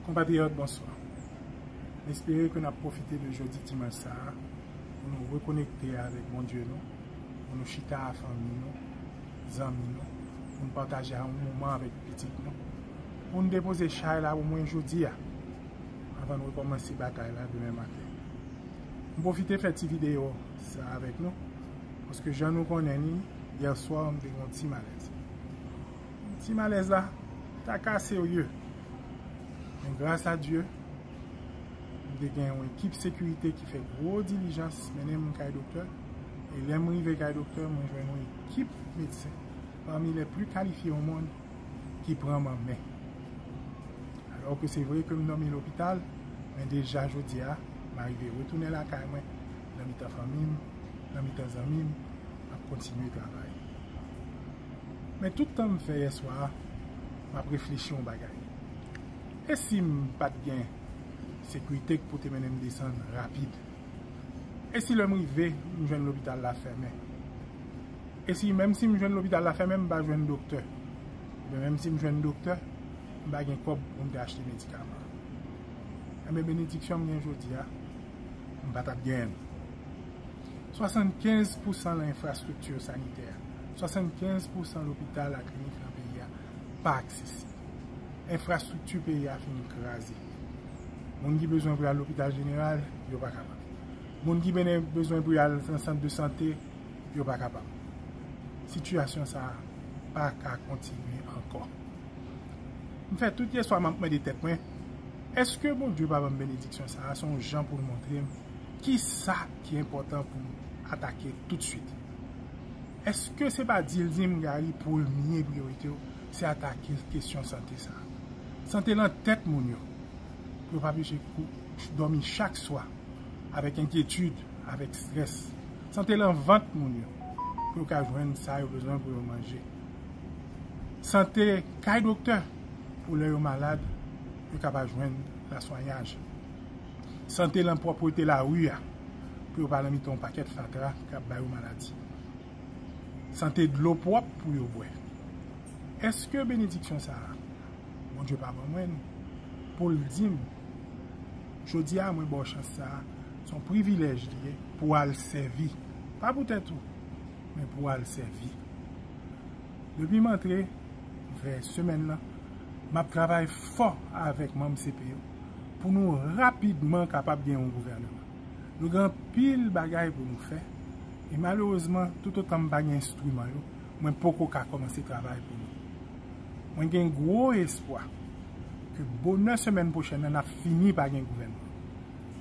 Konpatriyòt bonswa. M espere ke n ap pwofite de jodi dimanch sa a pou nou rekonekte avèk Bondye nou, pou nou chita a fanmi nou, zanmi nou, pou n pataje a yon moman avèk pitit nou, pou n depoze chay la omwen jodi a, anvan n rekòmanse batay la demen maten. M pwofite fè ti videyo sa avèk nou, paske jan nou konnen ni, yèswa m te gen yon ti malèz. Ti malèz la ta ka serye. Men gras a Dye, m te gen yon ekip sekirite ki fè gwo dilijans mennen m kay doktè. E lè m rive kay doktè, mwen jwenn yon ekip medsen pami lè pli kalifye o mond ki pran m an men. Alò ke se vre ke m dòmi lopital, men deja jodi a, m arive retounen lakay mwen, nan mitan fanmi m, nan mitan zanmi m, m ap kontinye travay. Men tout tan m fè yèswa a, m ap reflechi yon bagay. E si m pa t gen sekirite k pou te mennen m desann rapid? E si lè m rive, m jwenn lopital la fèmen? E si menm si m jwenn lopital la fèmen, m pa jwenn doktè? Oubyen menm si m jwenn doktè, m pa gen kòb pou m te achte medikaman? Enben benediksyon m gen jodi a, m pa t ap genyen l. Swasannkenz pousan nan enfrastrikti sanitè. 75 pousan lopital ak klinik nan peyi a pa aksesib. Enfrastrikti peyi a fin kraze. Moun ki bezwen pou y al lopital jeneral, yo pa kapab. Moun ki bezwen pou y al nan sant de sante, yo pa kapab. Sitiyasyon sa a pa ka kontinye ankò. M fè tout yèswa m ap mande tèt mwen, èske Bondye pa ban m benediksyon sa a se yon jan pou l montre m kisa ki enpòtan pou m atake toutswit? Eske se pa dil dim Gary premye priyoritew se atake kesyon sante sa. Sante lan tèt moun yo. Yo pa peche kou dòmi chak swa avèk enkyetid, avèk strès. Sante lan vant moun yo pou yo ka jwenn sa yo bezwen pou yo manje. Sante kay doktè pou lè yo malad yo ka pa jwenn laswenyaj. Sante lan pwòprete lari a pou yo pa lan mitan yon pakèt fatra k ap ba yo maladi. Sante dlo pwòp pou yo bwè. Eske benediksyon sa a Bondye pa ban mwen pou l di m jodi a mwen ba w chans sa a se yon privilèj li ye pou w al sèvi pa pou tèt ou men pou w al sèvi. Depi m antre vè semèn nan, m ap travay fò avèk manm CP yo pou nou rapidman kapab gen yon gouvèneman. Nou gen anpil bagay pou nou fè e malerezman toutotan m pa gen enstriman yo, mwen poko ka kòmanse travay pou nou. Mwen gen gwo espwa ke bonè semèn pwochèn nan n ap fini pa gen gouvènman.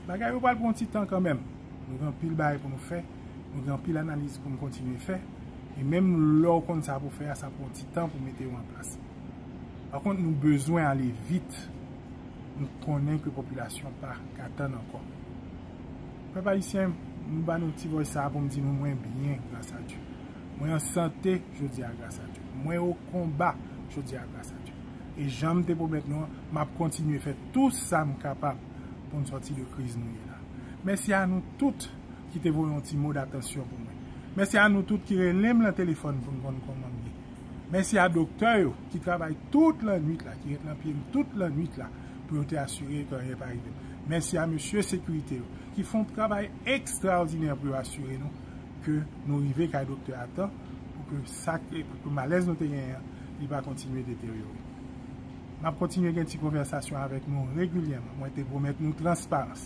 Bagay yo pral pran yon ti tan kanmenm, nou gen anpil bagay pou nou fè. Nou gen anpil analiz pou n kontinye fè, e menm lè w konn sa pou w fè a, sa pran ti tan pou mete yo an plas. Pa kont, nou bezwen ale vit, nou konnen ke popilasyon an pa ka tann ankò. Pèp Ayisyen, m ba nou ti vòys sa a pou m di nou mwen byen, gras a Dye. Mwen an sante jodi a, gras a Dye. Mwen o konba jodi a, gras a Dye. E jan m te pwomèt nou an, m ap kontinye fè tou sa m kapab pou n sòti de kriz nou ye la. Mèsi a nou tout! ki te voye yon ti mo datansyon pou mwen. Mèsi a nou tout ki rele m lan telefòn pou n konn kòman m ye. Mèsi a doktè yo ki travay tout lannwit la, ki ret lan pye m tout lannwit la pou yo te asire ke anyen pa rive m. Mèsi a mesye sekirite yo ki fè yon travay ekstraòdinè pou yo asire nou ke nou rive kay doktè a tan pou ke sa pou ke malèz nou te genyen an li pa kontinye deteryore. M ap kontinye gen ti konvèsasyon avèk nou regilyèman. Mwen te pwomèt nou transparans.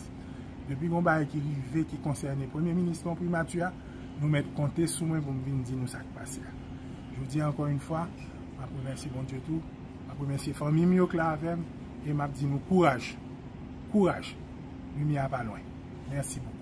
Depi gon bagay ki rive ki konsène Premye Minis lan ou Primati a, nou mèt konte sou mwen pou m vin di nou sa k pase a. Jodi a ankò yon fwa, m ap remèsye Bondye tou, m ap remèsye fanmi m yo k la avè m e m ap di nou kouraj! Kouraj! Limyè a pa lwen. Mèsi bokou.